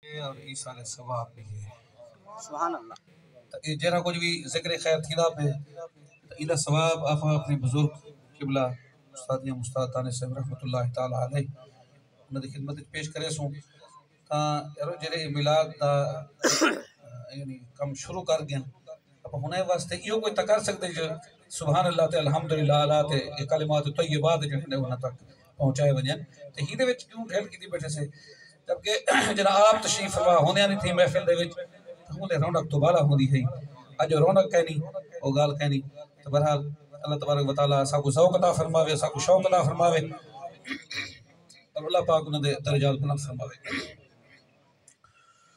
ہے اور ایصال ثواب بھی ہے سبحان اللہ تاں اے جیرھا کجھ وی ذکر خیر تھیندا پئے ایندا ثواب آپاں اپنے بزرگ قبلہ استاد یا مستاد دانش صاحب رحمۃ اللہ تعالی علیہ انہاں دی خدمت وچ پیش کریسوں تاں یارو جیرھے اے میلاد دا یعنی کم شروع کر گن اپاں ہنے واسطے ایہو کوئی تاں کر سکدے جو سبحان اللہ تے الحمدللہ اعلی تے اے کلمات طیبات جیڑھے نے انہاں تک پہنچائے ونجن تے ہیندے وچ کیوں ڈھل کیتی بیٹھے سے جبکہ جڈاں آپ تشریف فرما ہوندیاں نی تھیں محفل دے وچ تاں اوندے رونق توں بالا ہوندی ہئی اج او رونق کینی او گالھ کینی تے بہرحال اللہ تبارک و تعالی اساکوں ذوق عطا فرماوے اساکوں شوق عطا فرماوے اور اللہ پاک انہاں دے درجات بلند فرماوے۔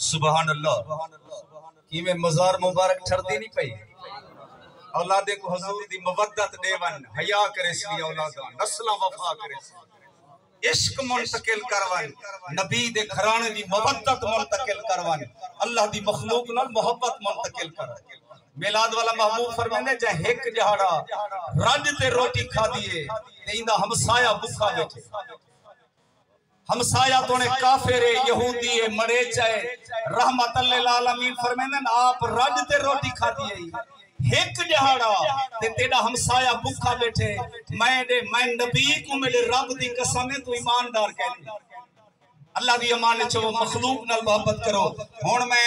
سبحان اللہ کیویں مزار مبارک ٹھردی نہیں پئی اولادیں کو حضور دی مودت ڈیون حیا کرے سی اولاداں نسلاں وفا کرے سی عشق منتقل کر ونڄ، نبی دے گھراݨے دی مودت منتقل کر ونڄ، اللہ دی مخلوق نال محبت منتقل کر ونڄ۔ میلاد والا محبوب فرمیندے جئیں ہک ڄہاڑا رڄ تے روٹی کھادی ہے تے ایندا ہمسایہ بکھا ٻیٹھے۔ ہمسایہ توݨیں کافر ہے، یہودی ہے، مریچہ ہے۔ رحمت للعالمین فرمیندن آپ رڄ تے روٹی کھادی ہئی۔ ہک ݙیہاڑا تے تیݙا ہمسایہ بکھا ٻیٹھے میں ݙے میں نبی کوں میݙے رب دی قسم ہے توں ایماندار کینی اللہ دی امان اچ رہو مخلوق نال محبت کرو ہݨ میں